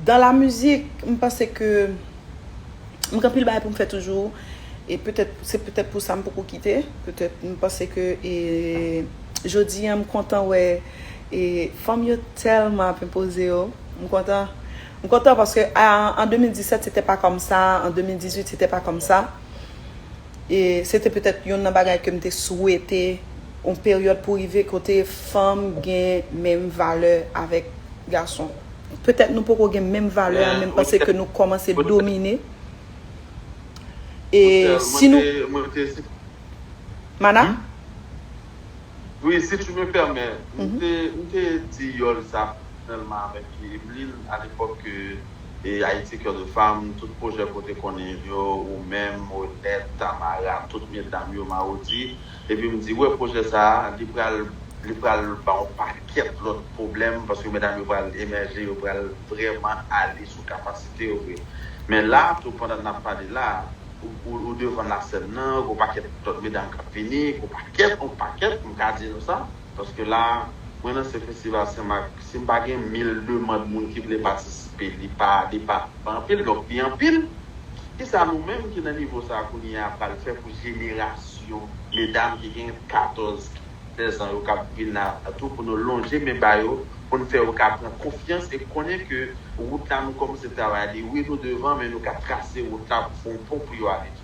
Dans la musique, m panse ke m gen anpil bagay pou m fè toujou e petèt se petèt pou sa m poko kite, petèt m panse ke e jodi an m kontan wè e fanm yo tèlman ap enpoze yo, m kontan m kontan paske a an 2017 se tè pa kòm sa, an 2018 se tè pa kòm sa e se te petèt yonn nan bagay ke m te swete yon peryòd pou rive kote fanm gen menm valè avèk gason. Petèt nou poko gen menm valè a menm pase ke nou kòmanse domine e si nou. Rutshelle, mwen te, mwen te. Mana? Wi, si tu me pèmè, m te, m te di Yòl sa pèsonèlman avèk Emeline a lepòk ke Haïti Coeur de Femme, tout pwojè ke w te konnen yo, ou menm, Odette, Tamara, tout medam yo, Marody, Epi m di wè pwojè sa a li pral li pral ba yon pakèt lòt pwoblèm paske medam yo pral emèje yo pral vrèman ale sou kapasite yo vre. Men la a tou pandan n ap pale la a ou ou devan lasèn nan gen yon pakèt lòt medam k ap vini yon pakèt yon pakèt m ka di nou sa. Paske la mwen nan se festival sen mak si m pa gen mil demand moun ki vle patisipe li pa li pa anpil donk li anpil kisa nou menm ki nan nivo sa kounye a pral fè pou jenerasyon medam ki gen 14 16 an yo kap vin la tou pou nou lonje men ba yo pou n fè yo ka pran konfyans e konnen ke wout la nou kòmanse travay li wi nou devan men nou ka trase wout la pou fè yon pon pou yo ale pi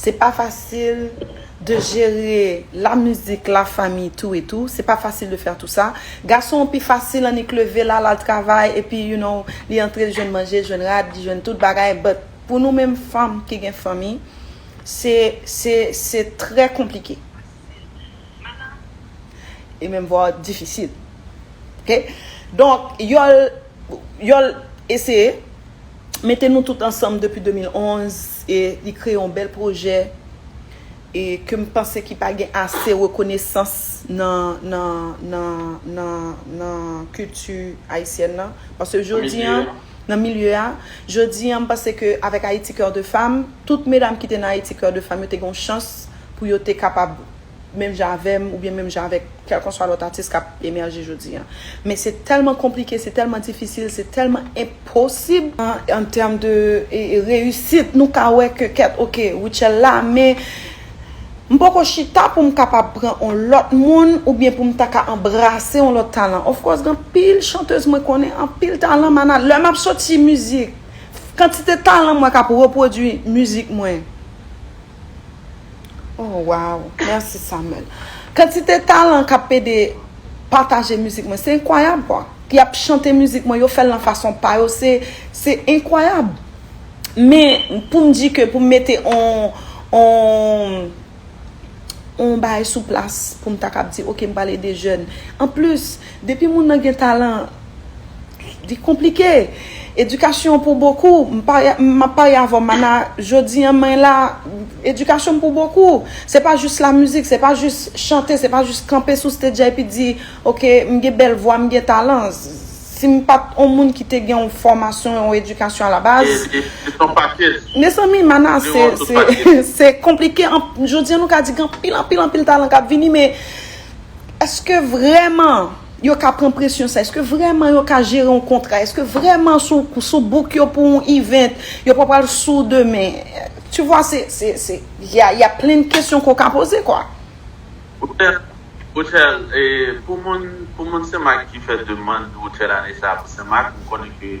Se pa fasil de jere la mizik, la fanmi tou e tou. Se pa fasil de fè tou sa. Gason pi fasil annik leve la lal travay epi you know li antre li jwenn manje, jwenn rad, li jwenn tout bagay but pou nou menm fanm ki gen fanmi se se se trè konplike e menm vwa difisil ok donk yol yol eseye. mete nou tout ansanm depi 2011 e li kreye yon bèl pwojè e ke m panse ki pa gen ase rekonesans nan nan nan nan nan kilti ayisyèn nan pase jodi an nan milye a jodi an m panse ke avèk Haïti Coeur de Femme tout medam ki te nan Haïti Coeur de Femme yo te gen yon chans pou yo te kapab menm jan avè m oubyen menm jan avèk kèlkanswa lòt atis k ap emèje jodi a. Men se tèlman konplike, se tèlman difisil, se tèlman enposib. An tèm de reyisit, nou ka wè ke kèt ok, Rutshelle la, men m poko chita pou m kapab pran on lòt moun oubyen pou m ta ka anbrase on lòt talan. Of course, gen anpil chantez mwen konnen, anpil talan mana. Lè m ap soti mizik, kantite talan m wè k ap repwodui mizik mwen. Oh waw, merci Samuel. Kantite talan kap pede pataje mizik mwen se enkwayab kwa. Ki ap chante mizik mwen, yo fèl nan fason pa yo se se enkwayab. Men poum di ke poum mete on on on bagay sou plas poum ta kap di ok m pral ede jèn. Anplis. Depi moun nan gen talan Li konplike Edikasyon pou bokou M ap pale avèw Mana Jodi an mwen la Edikasyon pou bokou Se pa jis la mizik Se pa jis chante Se pa jis kanpe sou stage a epi di Ok m gen bèl vwa m gen talan Si m pat on moun ki te gen yon fòmasyon yon edikasyon a la baz Mezanmi Mana se Se konplike Jodi an nou ka di gen anpil anpil anpil talan k ap vini men Eske vrèman yo ka pran presyon sa? Eske vrèman yo ka jere yon kontra? Eske vrèman sou book yo pou yon event, yo pa pral sou demen? Tu vwa, se, se, se, y a plen de kesyon ke w ka poze kwa. Rutshelle, Rutshelle, pou moun, pou moun Senmak ki fè demand Rutshelle ane sa pou Senmak, m konnen ke.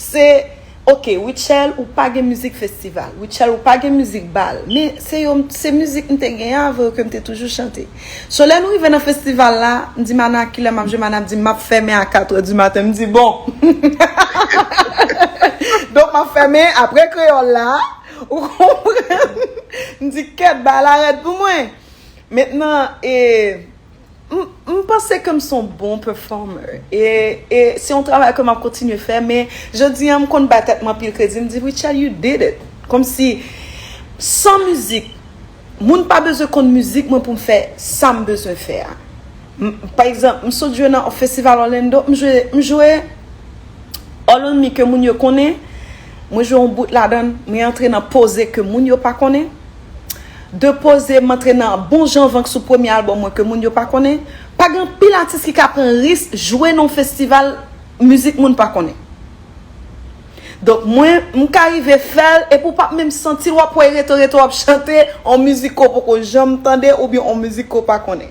Se Ok Rutshelle ou pa gen mizik festival, Rutshelle ou pa gen mizik bal, men se yo se mizik m te gen avè yo ke m te toujou chante. So lè nou rive nan festival la, m di Mana kilè m ap jwe, Mana ap di m m ap fèmen a 4 è di maten, m di bon! Donk m ap fèmen aprè kreyòl la, ou konprann? M di kèt bay la rèd pou mwen! Mentnan e. M panse ke m se yon bon performer e se yon travay ke m ap kontinye fè men jodi an m konn bay tèt mwen anpil kredi m di Rutshelle you did it kòmsi san mizik moun pa bezwen konn mizik mwen pou m fè sa m bezwen fè a pa egzanp m sot jwe nan festival Orlando m jwe m jwe All on me ke moun yo konnen mwen jwe yon bout ladan m m rantre nan poze ke moun yo pa konnen. Depoze m antre nan bon jan vank sou premye albòm mwen ke moun yo pa konnen. Pa gen anpil atis ki ka pran ris jwe nan yon festival mizik moun pa konnen. Donk mwen, m ka rive fè l epi ou pap menm santi l, w ap kwè rete rete w ap chante yon mizik ke w poko janm tande oubyen yon mizik ke w pa konnen.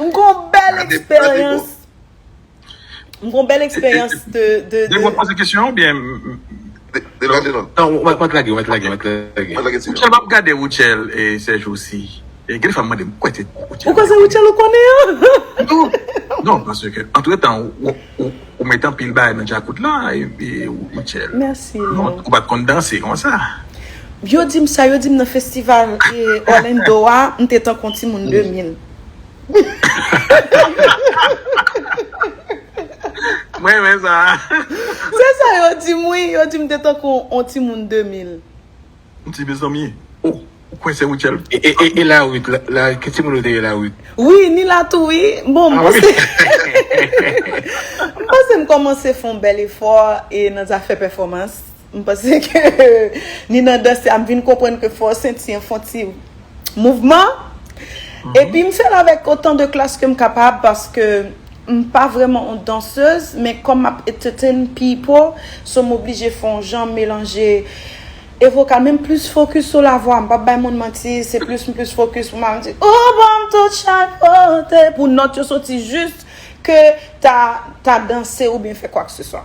M gon bel eksperyans M gon bel eksperyans de de de Mwen poze kesyon ou byen De lòt de lòt Non ou mèt lage ou mèt lage ou mèt lage Mwen lage ti Rutshelle map gade Rutshelle se jou si Gen de fwa m mande m kwè se Rutshelle Ou kwè se Rutshelle ou konnen an Non non paske ke antre tan ou met anpil bagay nan djakout la Rutshelle Merci Léo Ou pat konn danse konsa. Yo dim sa yo dim nan festival Orlando a m te tankou yon timoun 2000. M renmen sa a. Se sa yo di m wi, yo di m te tankou yon timoun 2000. M di mezanmi, oh ou kwè se Rutshelle? E la Ruth, ki timoun ou te ye la Ruth? Wi, ni la tou wi. Bon, m panse m panse m kòmanse fè yon bèl efò e nan zafè pèfòmans. M panse ke ni nan danse a m vin konprann ke fò senti an fon ti mouvman. Epi m fè l avèk otan de klas ke m kapab paske m pa vrèman on dansez men kòm m ap entetenn pipo so m oblije fè on jan melanje e vokal men m plis fokis sou lavwa m pap bay moun manti se plis m plis fokis pou m al di ou ban m tout chak kote pou nòt yo soti jis ke ta ta danse oubyen fè kwak se swa.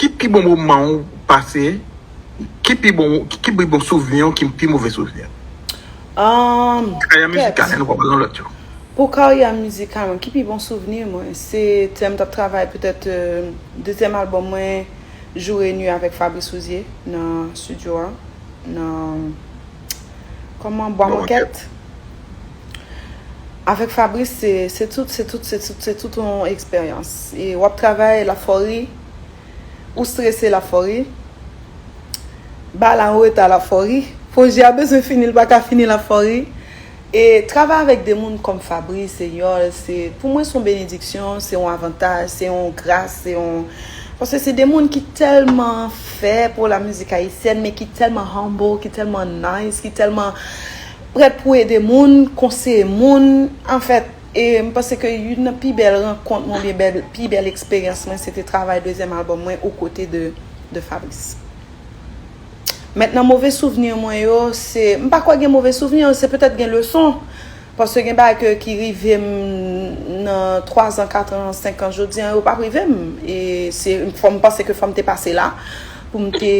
Ki pi bon moman ou pase? Ki pi bon ki pi bon souvni ou ki pi move souvni ou? Ahh Karyè kèt! mizikal la nou pa pale nan lòt yo. Pou karyè mizikal mwen, ki pi bon souvni mwen? Se lè m t ap travay petèt dezyèm albòm mwen Jour et Nuit avèk Fabrice Rouzier nan studio a nan kòman Bwa Mòkèt. Avèk Fabrice se se tout se tout se tout se tout yon eksperyans e wap travay lap fè w ri ou strese lap fè w ri bagay la anreta lap fè w ri pwojè a bezwen fini li paka fini lap fè w ri e travay avèk de moun kòm Fabrice e Yòl se pou mwen se yon benediksyon se yon avantaj se yon gras se yon paske se de moun ki tèlman fè pou la mizik ayisyèn men ki tèlman humble ki tèlman nice ki tèlman Prèt pou ede moun, konseye moun, anfèt, e m panse ke youn nan pi bèl rankont mwen oubyen bèl, pi bèl eksperyans mwen se te travay dezyèm albòm mwen o kote de de Fabrice. Mentnan move souvni mwen yo, se, m pa kwè gen move souvni, se petèt gen leson, paske gen bagay ke ki rive m nan twazan, katran, senkan jodi an yo p ap rive m, e se fò m panse ke fò m te pase la pou m te.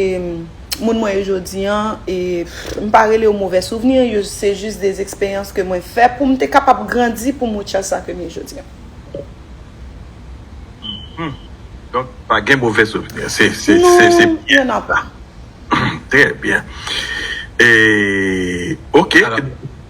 Moun mwen yo jodi an, e m pa rele yo movè souvni, yo se jis de eksperyans ke mwen fè pou m te kapab grandi pou m wè chans sa ke m ye jodi an. Hum. Donk pa gen movè souvni. Se se se se Non, byen. y'en a pas. Trè byen. E ok.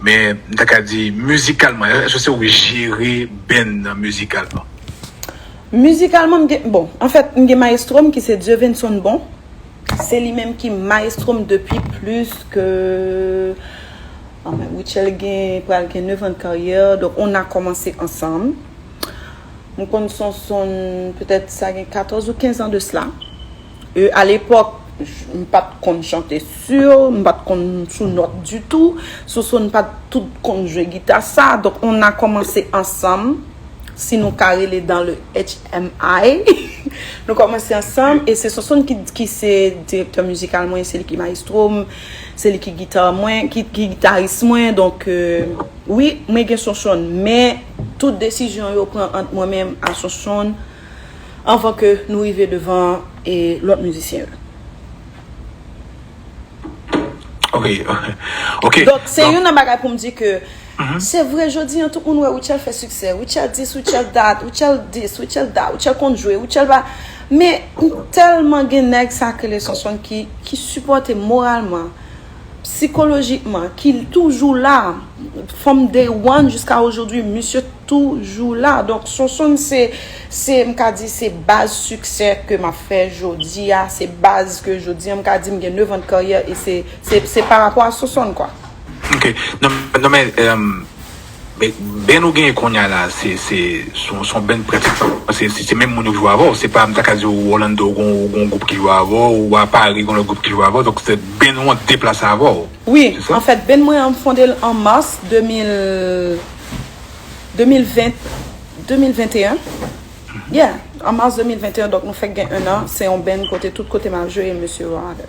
Men m ta ka di mizikalman, èske se ou ki jere band nan mizikalman? Mizikalman m gen, bon, anfèt m gen mayestwo m ki se Dieuvenson Bon. Se li menm ki mayestwo m depi plis ke, anmwey, Rutshelle gen, pral gen nevan de karyè, donk on a kòmanse ansanm. M konn Sonson petèt sa gen katòz ou kenzan de sla. Euh a lepòk m pat konn chante sur, m pat konn sou nòt ditou, Soso n pat tout konn jwe gita sa, donk on a kòmanse ansanm, si nou ka rele dans le HMI, nou kòmanse ansanm e se Soso n ki se direktè mizikal mwen, se li ki maestro m, se li ki gita mwen, ki gitaris mwen, donk wi mwen gen Soso n, men tout desizyon yo pran ant mwen menm a Soso n. Anvan ke nou rive devan lòt mizisyen yo. Donk se youn nan bagay pou m di ke se vre jodi an tout moun wè Rutshelle fè siksè. Rutshelle dis, Rutshelle dat, Rutshelle dis, Rutshelle dat, Rutshelle konn jwe, Rutshelle pa. Men m tèlman gen nèg sa ki rele Sonsonn ki sipòte moralman. Psikolojikman ki toujou la from day one jiska ojodwi misye toujou la donk Sonsonn se se m ka di se baz siksè ke map fè jodi a se baz ke jodi an m ka di m gen 9 an de karyè e se se se parapò a Sonsonn kwa. Ok non non men Men band ou genyen konnya la se se son band pratiquement se se menm moun yo ki jwe avèw se pa mta ka diw Orlando ou gon ou gon gwoup ki jwe avèw ou a Paris gon lòt gwoup ki jwe avèw donk se band ou an k deplase avèw Wi, se sa? anfèt band mwen an m fonde l an mars 2000 2020 2021 yeah an mars 2021 donk nou fèk gen 1 an se yon band kote tout kote map jwe mesye yo avèm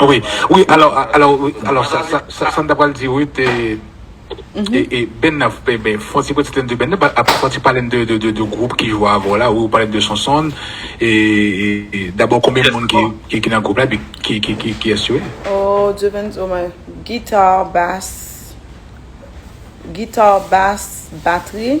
Wi, wi, alò, alò, alò sa, sa, sa, sa m ta pral di wi te, e, e, Ben nan, ben, ben, fon ti pati tande de Ben nan, pa, ap, fon ti pale n de, de, de, de gwoup ki jwe avè w la, wi ou pale m de Sonsonn, e, e, e, dabò konbyen moun ki, ki, ki nan gwoup la epi ki, ki, ki, kiyès yo ye? O, Dieuvense, o mwen, guitar, bass, guitar, bass, batri.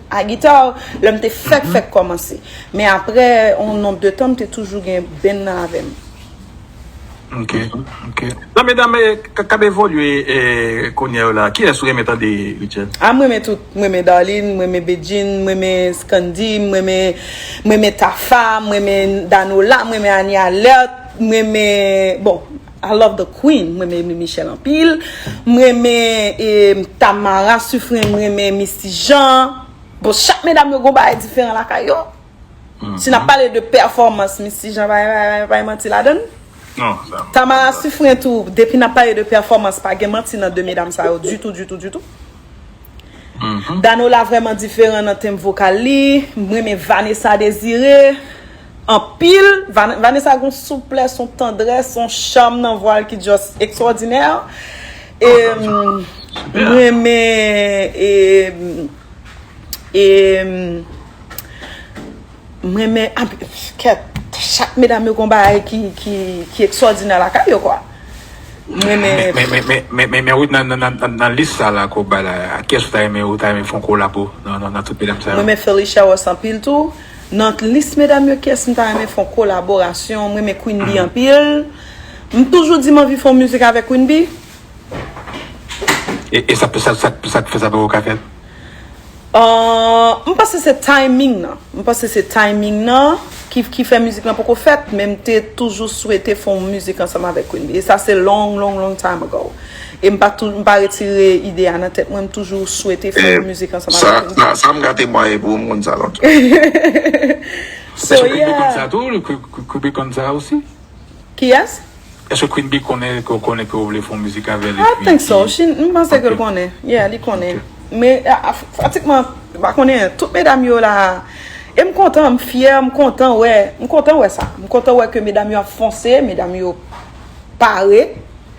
A guitar, lè m te fèk fèk kòmanse. Men aprè yon nonb de tan m te toujou gen band nan avè m. Ok, ok. Nan medam kap evolye kounyè yo la, kiyès ou renmen tande Rutshelle? Ah m renmen tout, m renmen Darline, m renmen Bedjine, m renmen Scandy, m renmen m renmen Tafa, m renmen Danola, m renmen Annie Alerte, m renmen bon. I love the queen m renmen Emile Michel anpil m renmen Tamara suffren m renmen Misty Jean bon chak medam yo gon bagay diferan lakay yo si nap pale de pèfòmans Misty Jean pa gen pa gen manti ladann Tamara suffren tou depi nap pale de pèfòmans pa gen manti nan de medam sa yo ditou ditou ditou Danola vrèman diferan nan tenb vokal li m renmen Vanessa Desiré anpil, Vanessa gon souplès on tandrès on cham nan vwal ki just extraordinè e m renmen e e m renmen kèt chak medam yo gon bagay ki extraordinè lakay yo kwa m renmen men Ruth nan lis sa la ke w bay la ak kiyès ou ta renmen fon kolabo nan tout medam sa yo m renmen Phyllisia Ross anpil tou. Nan lis medam yo kiyès m ta renmen fon kolaborasyon m renmen Queen Bee anpil m toujou di m anvi fon mizik avèk Queen Bee. E sa k fè sa poko ka fèt? Ahh m panse se timing nan m panse se timing nan ki fè mizik lan poko fèt men m te toujou swete fon mizik ansanm avèk Queen Bee e sa se long long long time ago. E m pa tou m pa retire ide a nan tèt mwen, m toujou swete fè yon mizik ansanm avèk King Pool. Sa m ka temwaye pou m konn sa lan tou. So yeah. Èske Queen Bee konn sa tou? Queen Bee konn sa osi? Kiyès? Èske Queen Bee konnen ke w konnen ke w vle fè yon mizik avè l epi. I think so. M panse ke l konnen. Yeah, li konnen. Men pratikman m pa konnen tout medam yo la e m kontan, m fyè, m kontan wè, m kontan wè sa. M kontan wè ke medam yo ap fonse, medam yo pare.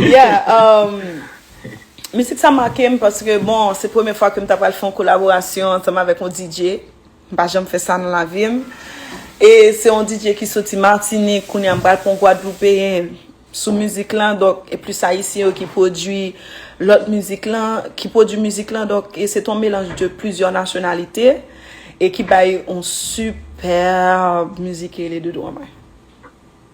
Yeah umm Mizik sa makem paske bon se premye fwa kem ta pral fè yon kolaborasyon antanm avèk yon DJ m pa janm fè sa nan lavim e se yon DJ ki soti Martinique kounya m pral pran yon Gwadloupeyen sou mizik lan donk e plis ayisyen yo ki pwodui lòt mizik lan ki pwodui mizik lan donk e se t yon melanj de plizyè nasyonalite e ki bay yon sipèèb mizik ki rele Dodo Anmay.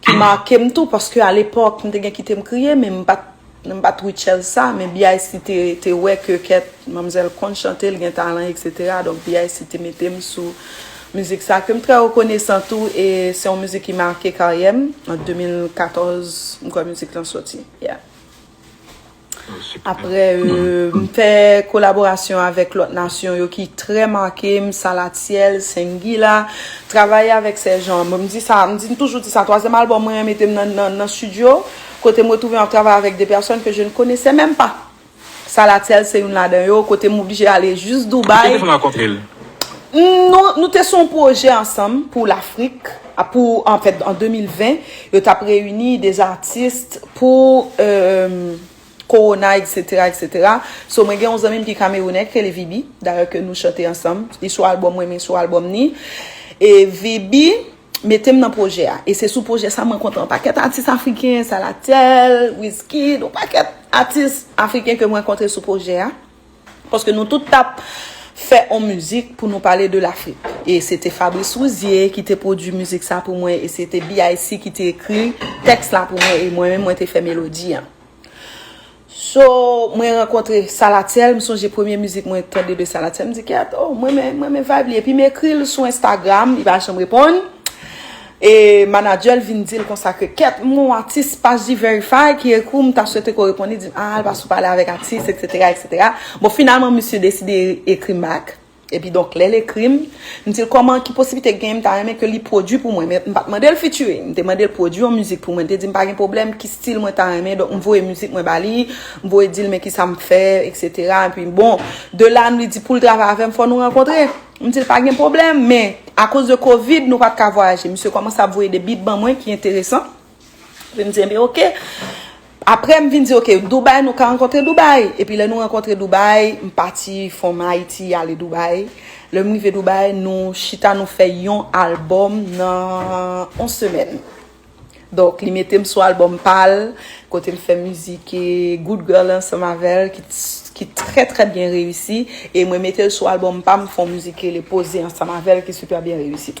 Ki make m tou paske a lepòk m te gen kite m kriye men m pat m pat Rutshelle sa men BIC te te wè ke kèt manmzèl konn chante l gen talan etc donk BIC te mete m sou mizik sa ke m trè rekonesan tou e se yon mizik ki make karyè m an 2014 m kwè mizik lan soti yeah. Apre m fè kolaborasyon avèk lòt nasyon yo ki trè make m, Salatiel, Sengila, travaye avèk sè Jean, m di sa, m toujou di sa, twazyèm albòm mwen an mete m nan stidyo, kote m retwouve m ap travay avèk de pèsòn ke je ne konesè menm pa. Salatiel se youn ladan yo, kote m oblije ale jis Dubai. Ki te fè w rankontre l? Nou te sou yon pwojè ansanm pou Lafrik, a pou an fèt an 2020 yo tap reyini des artistes pou euh Corona etc etc so mwen gen yon zanmim ki kamerounè ki rele Viby dayè ke nou chante ansanm li sou album mwen mwen sou album ni e Viby metem nan projè a e se sou projè sa mwen kontre yon pakèt atis afriken Salathel Wizkid yon pakèt atis afriken ke mwen kontre sou projè a. Paske nou tout t ap fè on mizik pou nou pale de Lafrik. E se te Fabrice Rouzier ki te pwodui mizik sa pou mwen e se te BIC ki te ekri tèks la pou mwen e mwen menm mwen te fè melodi an. So, mwen rankontre Salatiel, m sonje premye mizik mwen tande de Salatiel, m di Kèt, oh, m renmen, m renmen vibe li. Epi m ekri l sou Instagram, li pa janm reponn. E manager l vin dil konsa ke kèt m ou atis paj D-verify ki ekri w m ta swete ke w reponn li di m a al pase w pale avèk atis etc etc. Bon finalman misye deside ekri m bak epi donk lè l ekri m m di l kòman ki posiblite k genyen m ta renmen ke li pwodui pou mwen men m pat mande l featuring m te mande l pwodui yon mizik pou mwen l te di m pa gen pwoblèm ki stil mwen ta renmen donk m voye mizik mwen ba li m voye di l men kisa m fè etc epi bon de la m li di pou l travay avè m fò nou rankontre. M di l pa gen pwoblèm, men akoz de kovid nou pa t ka vwayaje. Misye kòmanse ap voye de bit ban mwen ki enteresan. Epi m di enben ok. Apre m vin di ok, Doubay nou ka rankontre Doubay. Epi lè nou rankontre Doubay, m pati from Ayiti ale Doubay. Lè m rive Doubay, nou chita nou fè yon albòm nan yon semèn. Donk li mete m sou albòm pa l, kote m fè mizik Good Girl ansanm avè l ki trè trè byen reyisi e mwen mete l sou albòm pa m, m fè yon mizik ki rele Poze ansanm avè l ki sipè byen reyisi tou.